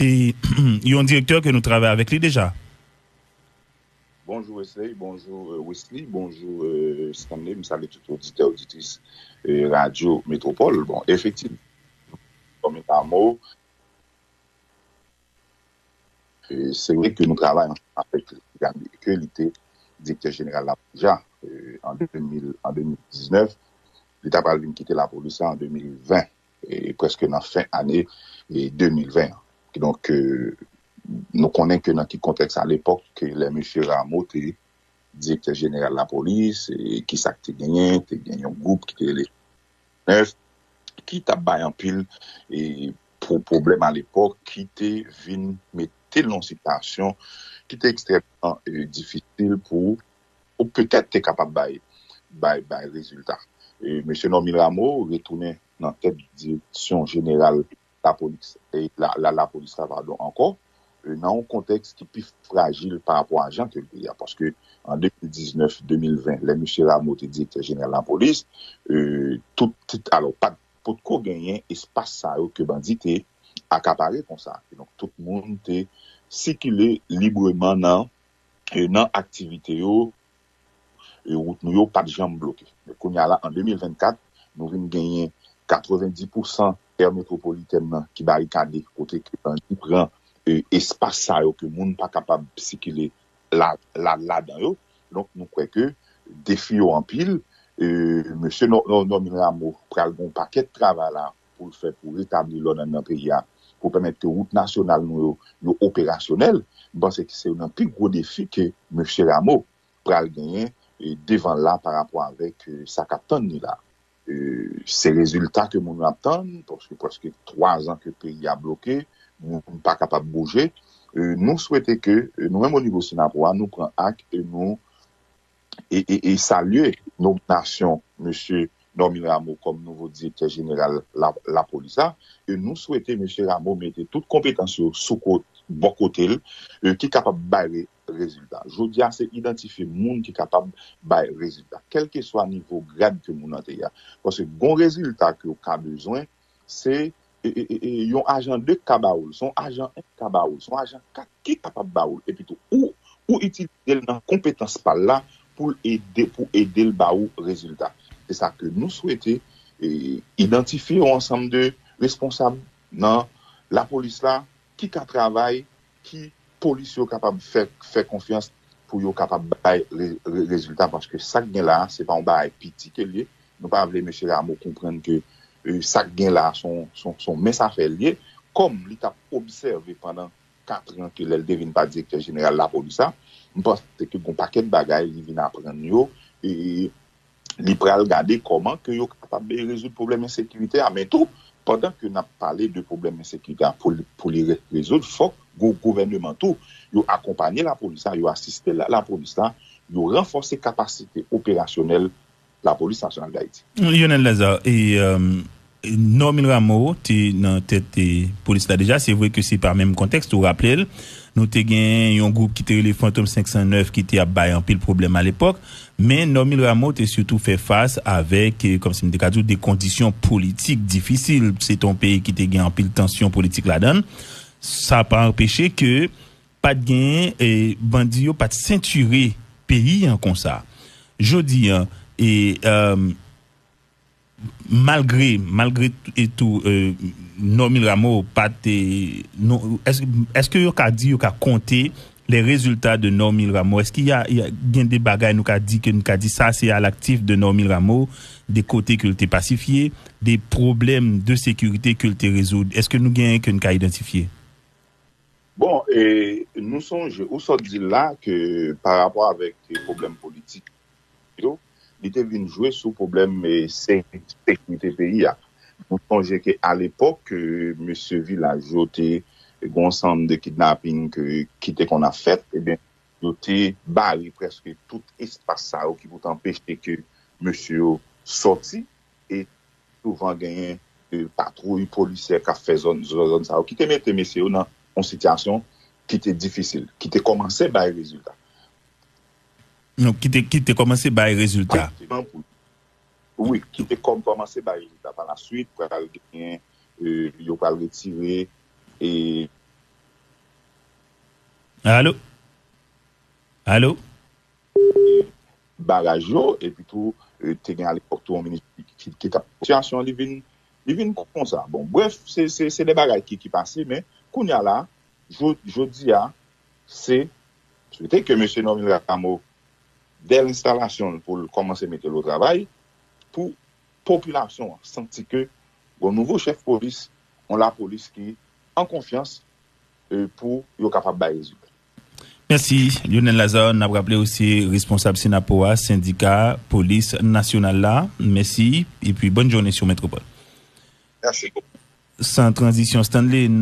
E yon direktè ke nou travay avèk li deja. Bonjou Wesley, bonjou Wisly, bonjou Stanley, m salye tout oditè oditris radyo Metropole. Bon, efektivman, kòm eta mo, se vre ke nou travay ansanm avèk li, byenke ke li te direktè jeneral lapolis la an 2019, li ta pral vin kite lapolis la an 2020. prèske nan fen ane 2020 an. Kidonk, nou konnen ke nan ki kontèks alepòk ke lè Mesye Rameau te Direktè Jeneral Lapolis, ki sa k te genyen, te gen yon gwoup ki te rele F9, ki t ap bay anpil pwoblèm alepòk, ki te vin mete l nan yon sitiyasyon ki te ekstrèmman difisil pou ou petèt te kapab bay bay rezilta. Mesye Normil Rameau retounen nan tèt direksyon jeneral lapolis la ankò nan yon kontèks ki pi frajil pa rapò a jan ke l te ye a paske an 2019, 2020 lè mesye Rameau te direktè jeneral lapolis tout alò pat potko genyen espas sa yo ke bandi te akapare konsa donk tout moun te sikile libreman nan. nan aktivite yo, wout nou yo pat janm bloke. Men kounye a la, an 2024, nou vin genyen 90 pousan è metwopolitèn nan ki barikade, kote ke bandi pran espas sa yo ke moun pa kapab sikile ladan yo. Donk nou kwè ke defi yo anpil. Mesye Normil Rameau pral gen yon pakèt travay la pou l fè pou retabli lòd anndan peyi a, pou pèmèt ke wout nasyonal nou yo, yo operasyonèl, m panse ke se youn nan pi gwo defi ke Mesye Rameau pral genyen devan l la pa rapò avèk sa k ap tann li la. Se rezilta ke moun yo ap tann, paske prèske 3 zan ke peyi a bloke, moun pa kapab bouje. Nou swete ke nou menm onivo Synapoha nou pran ak e nou. e salye nominasyon Mesye Normil Rameau kòm nouvo Direktè Jeneral Lapolis la. Nou swete Mesye Rameau mete tout konpetans yo bò kote l ki kapab bay rezilta. Jodi a se idantifye moun ki kapab bay rezilta. Kèlkeswa nivo grad ke moun nan te ye a. Paske gon rezilta ke ou ka bezwen. se yon ajan 2 k ka ba ou l, se yon ajan 1 k ka ba ou l, se yon ajan 4 ki kapab ba ou l epi tou ou ou itilize l nan konpetans pa l la pou l ede pou ede l ba ou rezilta. Se sa ke nou swete idantifye yon ansanm de responsab nan lapolis la Ki ka travay ki polis yo kapab fè konfyans pou yo kapab bay rezilta paske sak gen la se pa yon bagay piti ke liye nou pa vle mesye Rameau konprann ke sak gen la son mens afè liye kòm li tap obsève pandan 4 ran ke lèl te vin pa direktè jeneral lapolis la mpanse ke gon pakèt bagay li vin aprann yo e li pral gade kòman ke yo kapab rezoud pwoblèm ensekirite a, men tou pandan ke nap pale de pwoblèm ensekirite a pou li rezoud fòk gouvèneman tou yo akonpanye lapolis la, yo asiste lapolis la, yo ranfòse kapasite operasyonèl lapolis nasyonal Dayiti. Lyonel Lazarre, Normil Rameau te nan tèt polis la deja, se vre ke se pa menm kontèks, ou raple l, nou te gen yon gwoup ki te rele Fantom 509 ki te ap bay anpil pwoblèm alepòk, men Normil Rameau te sitou fè fas avèk, kòm si m te ka di w, de kondisyon politik difisil, se te yon peyi ki te gen anpil tansyon politik ladan l, sa pa anpeche ke pa t gen, bandi yo pa t sentire peyi an konsa. Jodi an, e. Malgre malgre tou Normil Rameau pa te Eske yo ka di yo ka konte le rezilta de Normil Rameau? Eske ya gen de bagay nou ka di ke nou ka di sa se alaktif de Normil Rameau de kote ke l te pasifye de pwoblèm de sekirite ke l te rezoud? Eske nou genyen ke nou ka idantifye? Bon, nou sonje ou sot di la ke parapò avèk pwoblèm politik yo, li te vin jwe sou pwoblèm sekirite peyi a. Nou sonje ke alepòk ke mesye vilaj yo te gen yon sanm de kidnaping ke ki te konn ap fèt, ebyen yo te bare prèske tout espas sa yo ki pou te anpeche ke mesye yo sòti e souvan genyen patwouy polisyè k'ap fè zòn zòn sa yo ki te mete mesye yo nan yon sitiyasyon ki te difisil, ki te kòmanse bay rezilta. Ki te kòmanse bay rezilta. Wi, ki te kòmanse bay rezilta. Pa la swit, pral gen, yo pral retire e. Alo? Alo? Baraj yo, epi tou, te gen alepòk tou yon minis ki tap. Sitiyasyon li vin, li vin konsa. Bon, brèf, se de bagay ki pase, men, kounya la, jodi a, Se swete ke Mesye Normil Rameau, dè lenstalasyon l pou l kòmanse mete l o travay, pou popilasyon an santi ke gon nouvo chèf polis, on lapolis ki an konfyans e pou yo kapab bay rezilta. Mèsi Lyonel Lazarre, n ap raple ou se responsab Synapoha, sendika polis nasyonal la. Mèsi epi bòn jounen sou Metropole. Mèsi bokou. San tranzisyon Stanley, n.